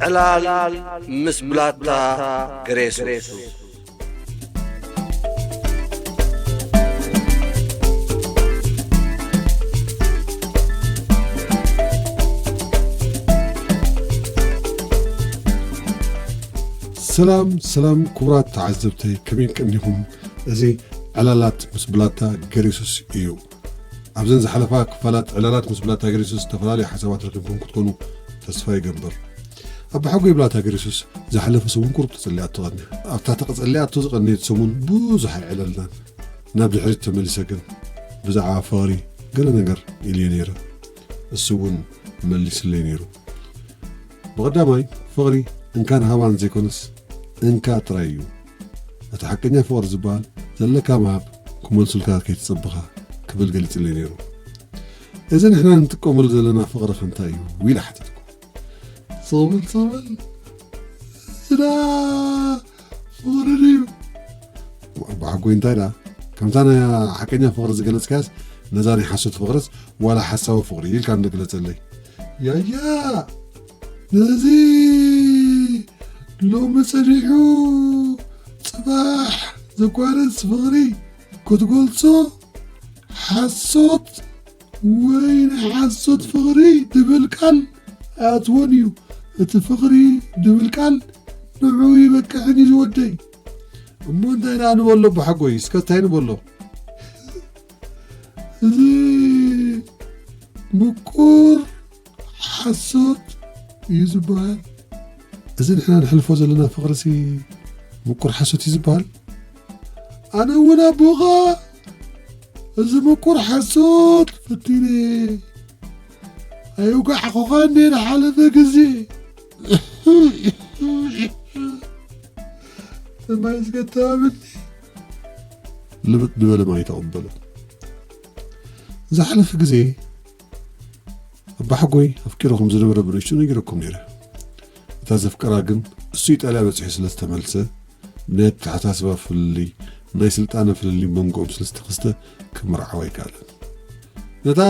ዕላል ምስ ብላታ ግሬሱ ሰላም ሰላም ክቡራት ተዓዘብቲ ከመይ ቀኒኹም እዚ ዕላላት ምስ ብላታ ገሬሱስ እዩ ኣብዘን ዝሓለፋ ክፋላት ዕላላት ምስ ብላታ ገሪሱስ ዝተፈላለዩ ሓሳባት ረኪብኩም ክትኮኑ ተስፋ ይገብር። ኣባሓጎይ ብላታ ገሪሱስ ዝሓለፈ ሰሙን ቁሩብ ተጸሊኣቶ ቀኒያ። ኣብታ ተቀጸሊኣቶ ዝቀነየት ሰሙን ብዙሕ ኣይዕለልናን። ናብ ድሕሪት ተመሊሰ ግን ብዛዕባ ፍቅሪ ገለ ነገር ኢልዮ ነይረ። እሱ እውን መሊስለይ ነይሩ። ብቀዳማይ ፍቅሪ እንካን ሃባን ዘይኮነስ እንካ ጥራይ እዩ። እቲ ሓቀኛ ፍቕሪ ዝበሃል ዘለካ ምሃብ ክመልሱልካ ከይተጸበኻ ክብል ገሊጽለይ ነይሩ። እዚ ንሕና ንጥቀመሉ ዘለና ፍቕሪኸ እንታይ እዩ? ኢለ ሓተትኩ። ጸበል ጸበል እዳ ፍቕሪ ድዩ? ብሓጎይ እንታይ ደኣ ከምታ ናይ ሓቀኛ ፍቕሪ ዝገለጽካያስ ነዛ ናይ ሓሶት ፍቕርስ ዋላ ሓሳዊ ፍቕሪ ኢልካ እንዶ ግለጸለይ። ያያ! ነዚ ሎሚ ጸኒሑ ጽባሕ ዘቋርጽ ፍቕሪ ክትገልጾ ሓሶት ወይ ናይ ሓሶት ፍቕሪ ድብል ቃል ኣይኣትዎን እዩ። እቲ ፍቕሪ ድብል ቃል ንዑኡ ይበቅዕን እዩ ዝወደይ። እሞ እንታይ ደኣ ንበሎ ኣቦሓጎይ እስከ እንታይ ንበሎ እዚ ምቁር ሓሶት እዩ ዝበሃል እዚ ንሕና ንሕልፎ ዘለና ፍቕሪሲ ምቁር ሓሶት እዩ ዝበሃል ኣነ እውን ኣቦኻ እዚ ምቁር ሓሶት ፈቲነ ኣይውጋዕኹኻ እንዴ ንሓለፈ ግዜ ሰማይ ዝገታብኒ ልብጥ ንበለ ማይ ተቐበሎ ዝሓለፈ ግዜ ኣባሓጎይ ኣፍቂሩ ከም ዝነበረ ብንእሽቱ ነጊረኩም ነይረ እታ ዘፍቀራ ግን እሱ ኢጣልያ በጺሑ ስለ ዝተመልሰ ብናይ ኣተሓሳስባ ፍልልይ ናይ ስልጣነ ፍልልይ መንጎኦም ስለ ዝተኸስተ ክምርዓው ኣይከኣለን ነታ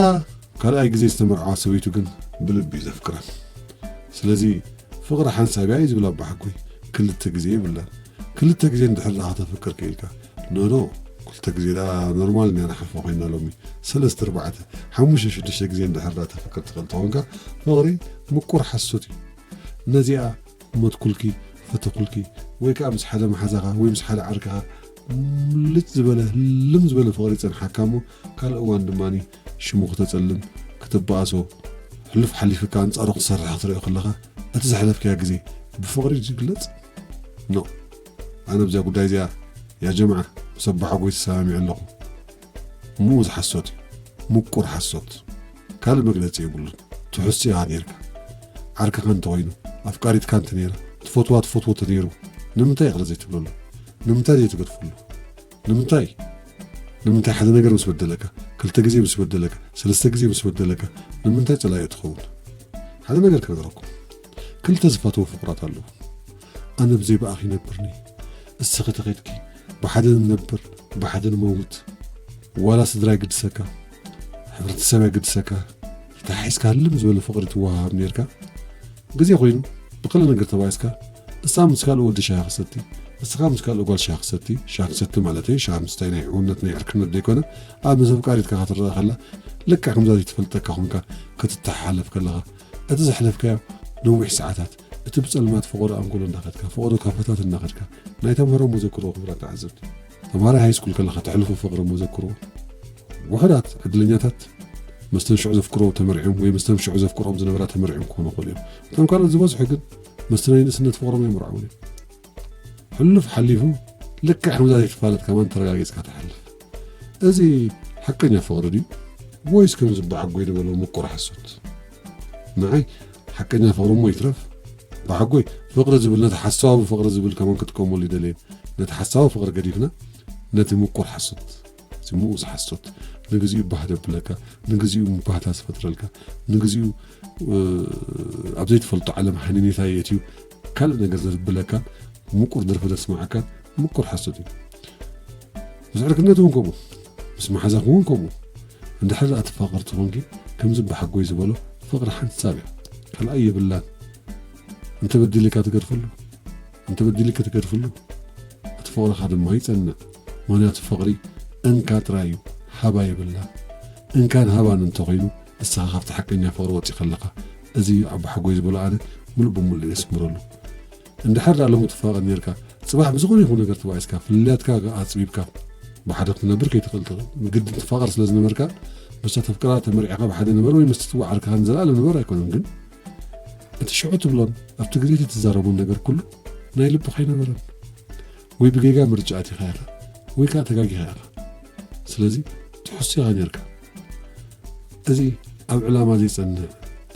ካልኣይ ግዜ ዝተመርዓዋ ሰበይቱ ግን ብልቢ እዩ ዘፍቅራ ስለዚ ፍቕሪ ሓንሳብያ እዩ ዝብል ኣባሓጎይ ክልተ ግዜ ይብላን ክልተ ግዜ እንድሕር ዳኻ ተፍቅር ክኢልካ ኖኖ ክልተ ግዜ ደኣ ኖርማል እንድያ ንሓፍራ ኮይና ሎሚ ሰለስተ ኣርባዕተ ሓሙሽተ ሽዱሽተ ግዜ እንድሕር ደኣ ተፍቅር ትኽእል ተኾንካ ፍቕሪ ምቁር ሓሶት እዩ ነዚኣ ሞትኩልኪ ፈተኹልኪ ወይ ከዓ ምስ ሓደ መሓዛኻ ወይ ምስ ሓደ ዓርክኻ ምልጭ ዝበለ ልም ዝበለ ፍቕሪ ይፀንሓካ እሞ ካልእ እዋን ድማ ሽሙ ክተፀልም ክትበኣሶ ሕሉፍ ሓሊፍካ ኣንፃሩ ክትሰርሕ ክትሪኦ ከለኻ እቲ ዘሕለፍካያ ግዜ ብፍቕሪ ዝግለፅ ኖ ኣነ ብዛ ጉዳይ እዚኣ ያጀምዓ ምስ ኣቦሓጎይ ተሰማሚዐ ኣለኹ እሞ እዚ ሓሶት እዩ ሙቁር ሓሶት ካልእ መግለጺ የብሉን ትሑስ ኢኻ ኔርካ ዓርክኻ እንተኾይኑ ኣፍቃሪትካ እንተኔራ ትፈትዋ ትፈትዎ ተኔሩ ንምንታይ ይቕረ ዘይትብለሉ ንምንታይ ዘይትገድፈሉ ንምንታይ ንምንታይ ሓደ ነገር ምስ በደለካ ክልተ ግዜ ምስ በደለካ ሰለስተ ግዜ ምስ በደለካ ንምንታይ ጸላኢ ትኸውን ሓደ ነገር ክነገረኩም ክልተ ዝፈትዎ ፍቑራት ኣለዉ ኣነ ብዘይ ብኣኺ ይነብርኒ እስኺ ተኸድኪ ብሓደ ንነብር ብሓደ ንመውት ዋላ ስድራ ይግድሰካ ሕብረተሰብ ኣይግድሰካ ተሓሒዝካ ህልም ዝበለ ፍቕሪ ትወሃሃብ ነርካ ግዜ ኮይኑ ብክለ ነገር ተባኢስካ እሳ ምስ ካልእ ወዲ ሻሂ ክሰቲ እስኻ ምስ ካልእ ጓል ሻሂ ክሰቲ ሻሂ ክሰቲ ማለት እየ ሻሂ ምስታይ ናይ ሕውነት ናይ ዕርክነት ዘይኮነ ኣብ ምስ ኣፍቃሪትካ ክትረኣ ከላ ልክዕ ከምዛ ዘይትፈልጠካ ኮንካ ክትተሓሓለፍ ከለኻ እቲ ዘሕለፍካዮ ነዊሕ ሰዓታት፣ እቲ ብጸልማት ፈቖዶ ኣንጎሎ እንዳኸድካ፣ ፈቖዶ ካፈታት እናኸድካ፣ ናይ ተምሃሮ መዘክሮ ክብረት ተዓዘብቲ። ተምሃራይ ሃይስኩል ከለኻ ተሕልፎ ፍቕሪ መዘክሮ፣ ውሑዳት ዕድለኛታት ምስተን ሽዑ ዘፍቅርኦ ተመርዕዮም ወይ ምስተን ሽዑ ዘፍቅርኦም ዝነበራ ተመርዕዮም ክኾኑ ይኽእሉ እዮም። እቶም ካልኦት ዝበዝሑ ግን ምስቲ ናይ ንእስነት ፍቕሮም ኣይምርዓውን እዮም። ሕሉፍ ሓሊፉ ልክዕ ከምዛ ዘይትፋለጥ ከማን ተረጋጊጽካ ትሓልፍ። እዚ ሓቀኛ ፍቕሪ ድዩ ወይስ ከም ዝበዓጎይ ዝበሎ ምቁር ሓሶት? ንዓይ ሓቀኛ ፍቕሪ እሞ ይትረፍ በዓጎይ ፍቕሪ ዝብል ነቲ ሓሳባዊ ፍቕሪ ዝብል ከማን ክጥቀመሉ ይደልየ ነቲ ሓሳባዊ ፍቕሪ ገዲፍና ነቲ ምቁር ሓሶት እቲ ምኡዝ ሓሶት ንግዚኡ ባህ ደብለካ ንግዚኡ ምባህታ ዝፈጥረልካ ንግዚኡ ኣብ ዘይትፈልጦ ዓለም ሃኒኔታ የእትዩ ካልእ ነገር ዘብለካ ምቁር ደርፊ ዘስማዓካ ምቁር ሓሶት እዩ ምስ ዕርክነት እውን ከምኡ ምስ መሓዛኹም እውን ከምኡ እንድሕር ደኣ ትፋቐርቲ ኮንኪ ከምዚ ብሓጎይ ዝበሎ ፍቕሪ ሓንሳብ እያ ካልኣይ የብላን እንተበዲልካ ትገድፍሉ እንተበዲልኪ ትገድፍሉ እቲ ፍቕርኻ ድማ ይጸንዕ ምክንያቱ ፍቕሪ እንካ ጥራይ እዩ ሃባ የብላን እንካን ሃባን እንተኾይኑ ንስኻ ካብቲ ሓቀኛ ፍቕሪ ወጺእካ ኣለኻ እዚ እዩ ኣቦሓጎይ ዝበሎ ኣነ ምሉእ ብምሉእ እየ ዝስምረሉ እንድሕር ድኣ ሎሚ ትፋቐር ኔርካ ጽባሕ ብዝኾነ ይኹን ነገር ተባኢስካ ፍልልያትካ ኣጽቢብካ ብሓደ ክትነብር ከይትኽእል ትኽእል ግድን ትፋቐር ስለ ዝነበርካ ምስታ ተፍቅራ ተመርዒኻ ብሓደ ንበር ወይ ምስቲ ትወዓልካ ንዘለኣለም ንበር ኣይኮነን ግን እቲ ሽዑ ትብሎን ኣብቲ ግዜ እቲ ትዛረቦን ነገር ኩሉ ናይ ልብኻ ኣይነበረን ወይ ብጌጋ ምርጫ ኣቲኻ ኢኻ ወይ ከኣ ተጋጊኻ ኢኻ ስለዚ ትሕሱ ኢኻ ኔርካ እዚ ኣብ ዕላማ ዘይጸንዕ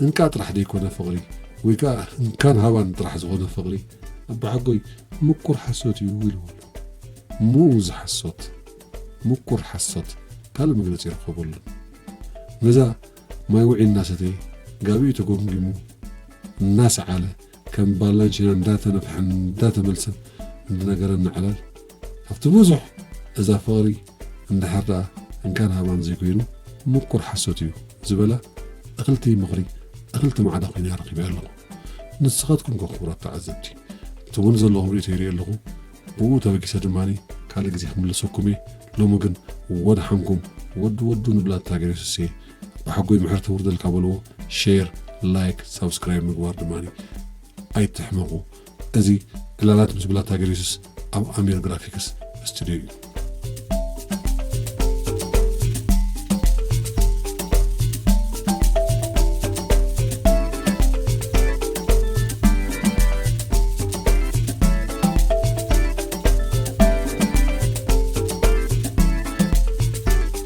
እንቃ ጥራሕ ዘይኮነ ፍቕሪ ወይ ከኣ እንካን ሃባን ጥራሕ ዝኾነ ፍቕሪ ኣባሓጎይ ምቁር ሓሶት እዩ ኢልዎ ኣሎ ሙኡዝ ሓሶት ምቁር ሓሶት ካልእ መግለጺ ይርከበሉን ነዛ ማይ ውዒ እናሰተየ ጋቢኡ ተጎምጊሙ እናሰዓለ ከም ባላንቺና እንዳተነፍሐን እንዳተመልሰን እንድነገረና ዕላል ካብቲ ብዙሕ እዛ ፍቕሪ እንድሕር ደኣ እንካን ሃባን ዘይኮይኑ ምቁር ሓሶት እዩ ዝበላ እኽልቲ ምኽሪ እኽልቲ ማዕዳ ኮይና ረኺበያ ኣለኹ ንስኻትኩም ከ ክቡራት ተዓዘብቲ ትብሉ ዘለኹም ርእቶ ይርኢ ኣለኹ ብኡ ተበጊሰ ድማ ካልእ ግዜ ክምለሰኩም እየ ሎሚ ግን ወድሓንኩም ወዲ ወዱ ንብላ እታ ገሬሱሴ ኣሕጎይ ምሕረት ተውርደልካ በልዎ ሼር ላይክ ሳብስክራይብ ምግባር ድማ ኣይትሕመቑ እዚ ዕላላት ምስ ብላታ ገሪሱስ ኣብ ኣሚር ግራፊክስ ስቱድዮ እዩ